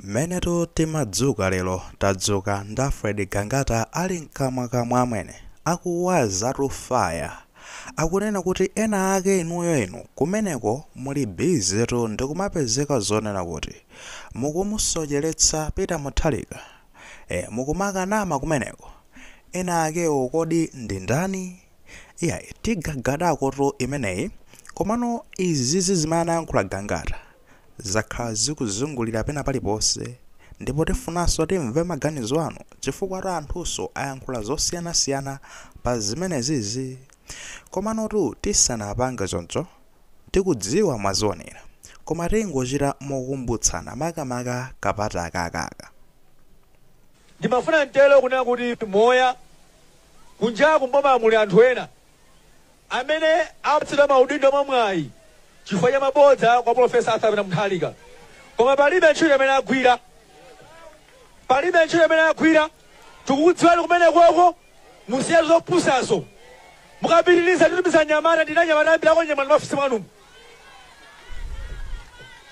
Mmenetu timadzuka lero tadzuka ndi Alfred Gangata ali mkamwa kamwa amwene. Akuwazatu fire. Akunena kuti ena ake inuyo inu kumeneko muli busy tu ndikumapezeka zonena kuti mukumusocheletsa Peter Mutharika. Eh mukumakanama kumeneko. Ena akewo kodi ndi ndani? Iyayi tigagadakotu imeneyi komano izizi zimene anayankhula Gangata zakhala zikuzungulira pena paliponse ndipo tifunanso timve maganizo anu chifukwatu anthunso ayankhula zosiyanasiyana pa zimenezizi komanotu tisanapange choncho tikudziwa mwazionera koma tingochita mokumbutsana makamaka ka part akaka aka. Ndimafuna nditero kunena kuti moyo Kunjaku m'bomamu muli anthu ena amene apatsidwa maudindo mwa mwayi chifukwa cha mabodza kwa Polofesa Arthur Pita Mutharika koma palibe ntchito imene agwira. Palibe ntchito imene agwira. Tikukudziwani kumene koko musiya zopusazo. Mukapitiliza titumiza anyamata ndili ndi anyamata ambiri akunyamulani m'maofesi mwanumu.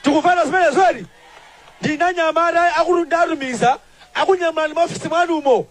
Tikumvana zimenezo eti? Ndili ndi anyamata oti ndiwatumiza akunyamulani m'maofesi mwanumo.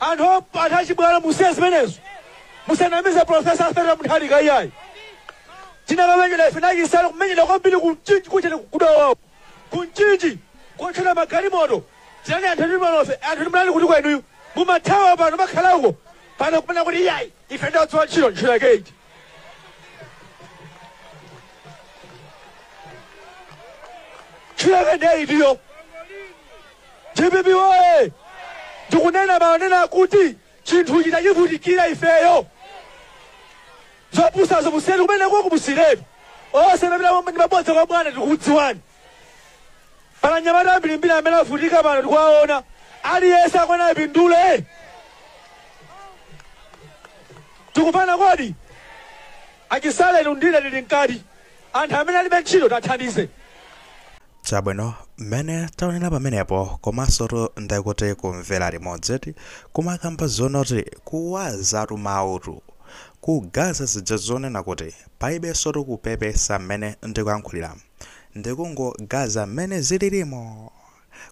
Anthu anthu achibwana musiye zimenezo. Musanamize Professor Arthur Mutharika iyayi. Tinakamenyera ife ndi aChisale kumenyera kwambiri ku Mchinji kotchera ku Dowa uko. Ku Mchinji kotchera magalimoto. Tinali anthu ndi malofe anthu ndi mlali kuti kwenuyu. Mumathawa pano makhala uko. Pano kumanena kuti iyayi ife tinagwira ntchito ntchito yake iti. Ntchito yake ndiye itiyo. Dpp woye! Ndikunena mau onena kuti chinthuchi tachivutikira ifeyo. Zopusazo musiye kumeneko komwe musiyiretu. Nonse mumapita ndi mabodza kwa bwana tikukudziwani. Pali anyamata ambirimbiri amene avutika pano tikuwaona. Aliyense akuyenera apindule. Tikumvana kodi? Achisale ndi ine tili mkati. Anthu amene alibe ntchito tiathandize. Chabwino, mmene taonera pamenepo komansotu ndekuti kumvera limodzi eti kumakamba zonakuti kuwazatu mawutu kugaza zija zonena kuti palibensotu kupepesa mmene ndikuyankhuliramu ndikungogaza mmene zililimo.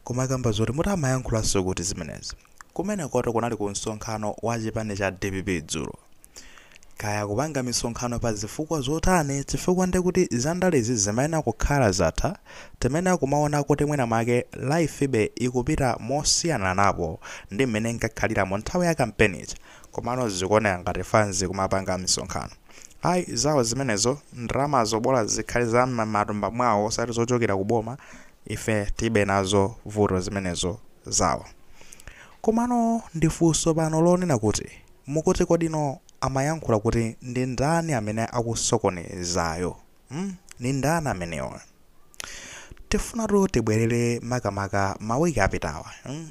Kumakamba zoti muti amayankhulanso kuti zimenezi? Kumenekotu kunali ku msonkhano wa chipani cha dpp dzulo. Kaya akupanga misonkhano pa zifukwa zotani chifukwa nde kuti za ndalezi zimayenera kukhala zatha, timayenera kumaona kuti mwina mwake life be ikupita mosiyananapo ndi mmene inkakhalira mu nthawi ya kampeni ija. Komano zikuoneka ngati fanzi ikumapanga misonkhano. Ayi zawo zimenezo, ndalamazo bola zikhale za m'matumba mwawo osati zochokera ku boma, ife tilibe nazo vuto zimenezo zawo. Komano ndi funso pano lonena kuti, mukuti kodino amayankhula kuti ndi ndani amene akusokonezayo? mm nindani amenewa tifunatu tibwerere makamaka mawiki apitawa mm?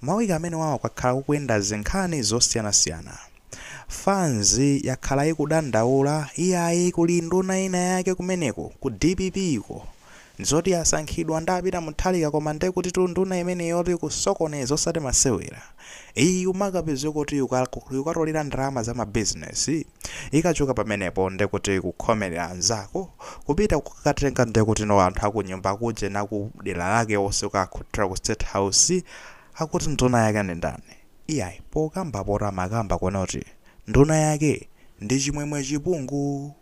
mawiki amenewawa kwakhala kukuyenda zinkhani zosiyanasiyana fanzi yakhala ikudandaula iyayi kuli nduna ina yake kumeneko ku dpp iko zoti yasankhidwa nda Peter Mutharika koma nde kuti tu nduna imeneyotu kusokoneza osati masewera iyi umakapeze kuti yuka- yukatolera ndalama za mabizinesi Ikachoka pamenepo ndekuti kukhomelera anzako, kupita kukatenga ndekuti no anthu akunyumba akuja nakudera lake onse kukakhuthulira ku state house akuti nduna yake ndi ndani? Iyayi pokamba poto amakamba kunoti nduna yake ndi Chimwemwe Chipungu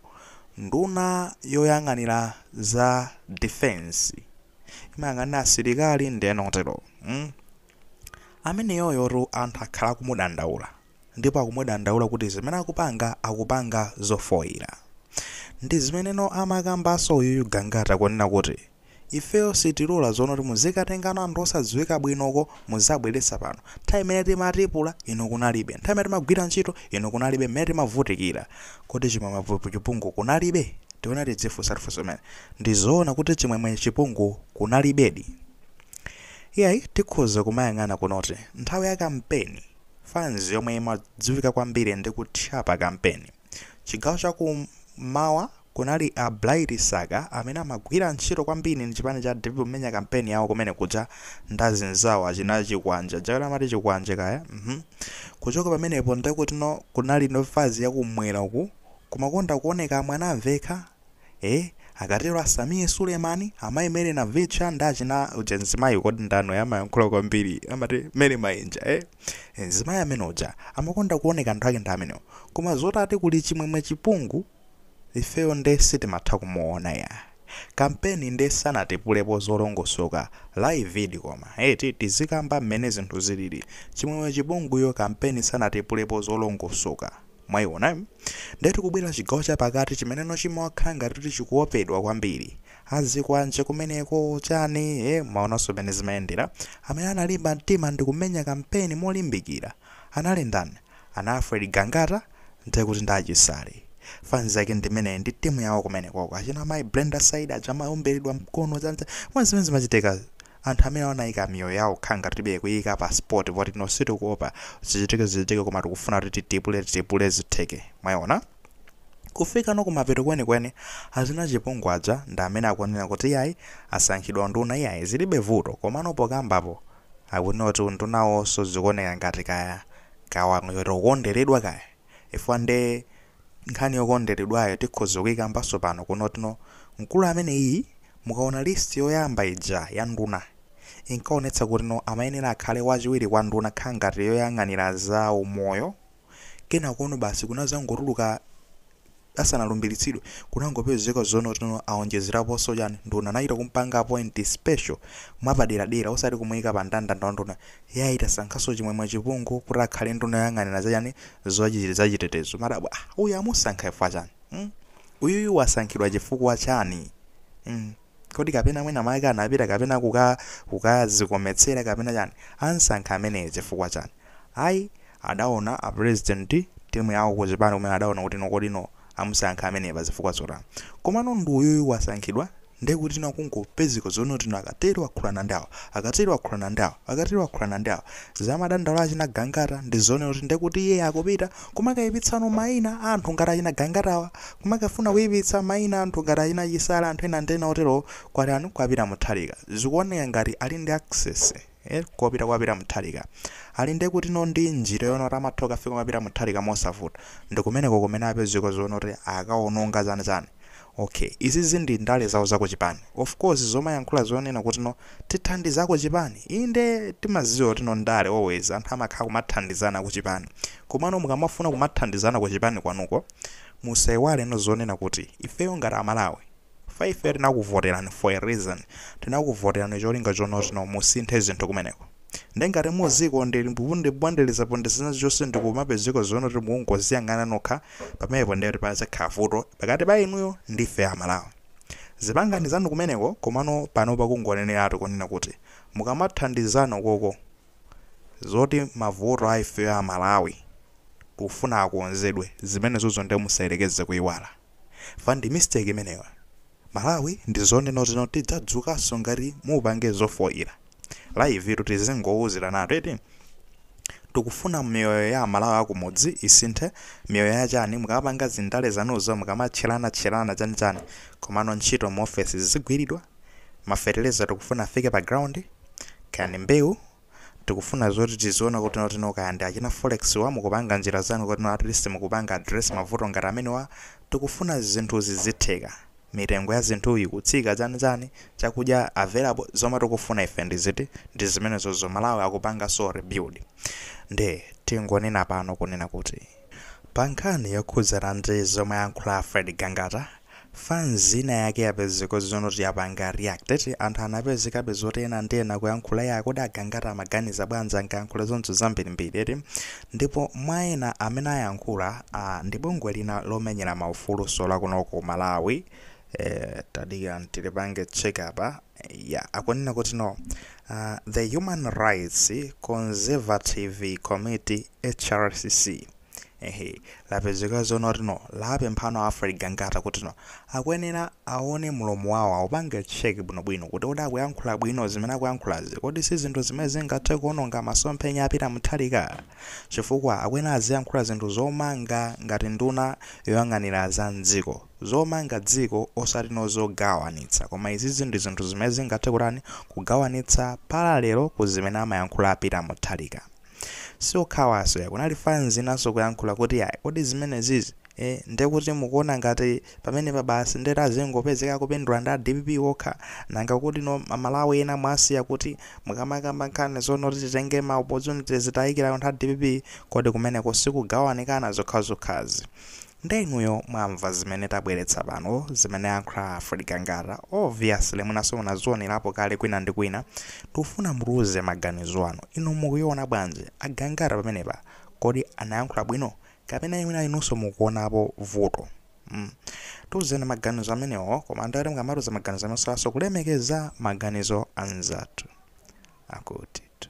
nduna yoyang'anira za defence imayang'anira asilikali ndi ena otero mm ameneyoyotu anthu akhala akumudandaula. ndipo akumudandaula kuti zimene akupanga akupanga zofoira ndizimeneno amakambaso uyuyu Gangata kunena kuti ifeyo sitilora zonoti muzikatengano anthu osadziwika bwinoko muzibweretsa pano, nthawi imene timatipula inu kunalibe, nthawi imene timagwira ntchito inu kunalibe mmene timavutikira kodi Chimwemwe Chipungu kunalibe? Tione tidzifunsatu funso limeneli ndizoona kuti Chimwemwe Chipungu kunalibedi? Iyayi tikhoza kumayang'ana kunoti nthawi ya kampeni, Fans yomwe imadziwika kwambiri ndi kutchapa kampeni. Chigawo cha ku mmawa kunali a Bright Msaka amene amagwira ntchito kwambiri ndi chipani cha dpp pomenya kampeni yawo kumene kuja ndi azinzawo achina Chikwanje, aja amati Chikwanje kaya, mmh. Kuchoka pamenepo ndekutino kunali fans ya ku mmwera uku kumakonda kuoneka a Mwanamvekha? ee akatero a Sameer Suleman amayi mary navicha ndi achina uja mzimayi kodi ndani uyu amayankhula kwambiri amati mayi Mayenja e mzimayi amene uja amakonda kuoneka anthu ake ndi amenewo koma zoti ati kuli chimwemwe chipungu ifeyo nde sitimatha kumuona ya kampeni nde sanatipulepo zolongosoka laividi koma eti tizikamba mmene zinthu zilili chimwemwe chipunguyo kampeni sanatipulepo zolongosoka Mwaiona? Ndiye tikubwera chigawo chapakati chimeneno chimakhala ngati kuti chikuopedwa kwambiri. Azikwanje kumeneko, chani, ee, mwaonanso mmene zimayendera. Amene analimba mtima ndi kumenya kampeni molimbikira anali ndani? Anali Alfred Gangata? Ndiye kuti ndi a Chisale. Fans yake ndi imeneyi, ndi timu yawo kumenekoko. Achina Mayi Brenda Saidi aja amaomberedwa mkono, chani chani. Mwaona zimene zimachitika. Anthu amenewa anaika miyoyo yawo kukhala ngati tilibe kuiika pa spot poti no sitikuopa zichitike zichitike koma tikufuna kuti titipule titipule zitheke mwaiona kufikano kumapeto kwenikweni achina chipungu aja ndi amene akunena kuti iyayi asankhidwa unduna iyayi zilibe vuto komano pokambapo akunena kuti undunawoso zikuoneka ngati kaya kawangwiro kukonderedwa kaya chifukwa nde nkhani yokondeledwayo tikhoza kuikambanso pano kunoti no mkulu ameneyi mukaona list yoyamba ija ya nduna inkaonetsa kutino amayenera akhale wachiwiri kwa nduna kha ngati yoyang'anira za umoyo kenakono basi kunazangotuluka asanalumbilitsidwe kunangopezeka zonoti no awonjezeraponso chani nduna anachita kumpanga appoint special mwapaderadera osati kumuika pa ndandanda wa nduna yayi tasankhanso chimwemwe chipungu kuti akhale nduna yoyang'anira za chani zachitetezo madabwa ah uyu amusankha chifukwa chani mm? uyuyu wasankhidwa chifukwa chani mm? kodi kapena mwina mwake anapita kapena kuka kukazikometsera kapena chani amsankha ameneyo chifukwa chani ayi adaona a president timu yawo ku chipani kumene adaona kuti no kodi no amusankha ameneyo pa zifukwa zotani komano ndi uyuyu wasankhidwa ndiye kuti no kungopezeka zonena kuti no akatero akhulana ndi awa akatero akhulana ndi awa akatero akhulana ndi awa zamadandaulo achina gangata ndi zoona kuti ndiye kuti iye akupita Kumakaipitsano maina a anthu ngati achina Gangatawa, kumakafuna kuipitsa maina a anthu ngati achina Chisale anthu ena ndi ena oterowo kwa ndani? Kwa Peter Mutharika. Zikuoneka ngati ali ndi access eh kopita kwa Peter Mutharika. Ali ndi kutino ndi njira yoona kuti amatha kukafika kwa Peter Mutharika mosavuta. Ndi kumeneko kumene apezeka zonena kuti akaononga chani chani. Ok izizi ndi ndale zawo za kuchipani. Of course zomayankhula zonena kuti no tithandiza akuchipani inde timaziwa kuti no ndale always anthu amakhala kumathandizana kuchipani komano mukamafuna kumathandizana kuchipani kwanuko musaiwale no zonena kuti ifeyo ngati amalawi fa ifeyo tinakuvotelani for a reason tinakuvotelani cholinga chonoti no musinthe zinthu kumeneko Nde ngati muzikonde ndikupondeleza pondezana zonse ndikumapezeka zonena kuti mukungoziyang'ana nokha pamenepo ndekuti pazakhala vuto pakati pa inuyo ndi ifeyo a Malawi. Zipangani zanu kumeneko komano panopa kungoneneratu kunena kuti mukamathandizana ukoko zoti mavuto a ifeyo a Malawi tikufuna akonzedwe zimenezozo nde musayerekeze kuiwala. fa ndi mistake imeneyo amalawi ndi zonenozino tidzadzukaso ngati mupange zofoila live tu tizingouzilanatu eti tikufuna miyoyo ya amalawi akumudzi isinthe miyoyo ya chani mukamapanga zindale zanuzo mukamatchelana tchelana chani chani komano ntchito mu office zizigwilidwa mafertilizer tikufuna afike pa ground chani mbewu tikufuna zoti tiziona kuti notino kaya ndi achina forex wo mukupanga njira zanu kotino atleast mukupanga address mavuto ngati amenewa tikufuna zinthu zizitheka mitengo ya zinthu ikutsika chani chani chakudya available zomwe tikufuna ife ndi ziti ndi zimenezozo malawi akupangaso rebuild nde tingonena pano kunena kuti Pa nkhani yokhudzana ndi zomwe ayankhula a Fred Gangata, fanz ina yake yapezeka zonoti yapanga react eti anthu anapezekabe zoti enanso ndi ena kuyankhula yaa kodi a Gangata amaganiza bwanji akamayankhula zoncho zambirimbiri eti ndipo mwa ena amene ayankhula aa ndi bungwe lina lomenyera ma ufulunso lakuno ku Malawi ee tadikirani tilipange check apa ya akunena kuti no uh, the human rights consultative committee hrcc ehe lapezeka zoona kuti no lapemphano a Fred Gangata kuti no akuyenera aone mlomo wawo aupange cheki bwinobwino kuti kodi akuyankhula bwino zimene akuyankhulazi kodi si zinthu zimene zingathe kuononga masomphenya a Peter Mutharika chifukwa akuyenera aziyankhula zinthu zomanga ngati nduna yoyang'anira za mdziko zomanga dziko osati no zogawanitsa koma izizi ndi zinthu zimene zingathe kutani kugawanitsa parallel ku zimene amayankhula a Peter Mutharika si okhawanso ya kunali fans inanso kuyankhula kuti ya kodi zimene zizi e, ndi kuti mukuona ngati pamene pa basi nde tazingopezeka kupindula ndi a DPP okha nanga kuti no amalawi ena mwasiya kuti mukamakamba nkhani zonoti titenge ma opportunities tiyikire anthu a DPP kodi kumeneko si kugawanikana zokhazokhazi Nde inuyo mwamva zimene tabweretsa pano zimene ayankhula a Fred Gangata obviously mwinaso munazionerapo kale kwina ndi kwina tikufuna mutiuze maganizo anu inu mukuiona bwanji a Gangata pamenepa kodi anayankhula bwino kapena mwina inuso mukuonapo vuto mm tiuzeni maganizo amenewo koma ndekuti mukamatiuza maganizo anu musaiwalenso kulemekeza maganizo a anzathu akutitu.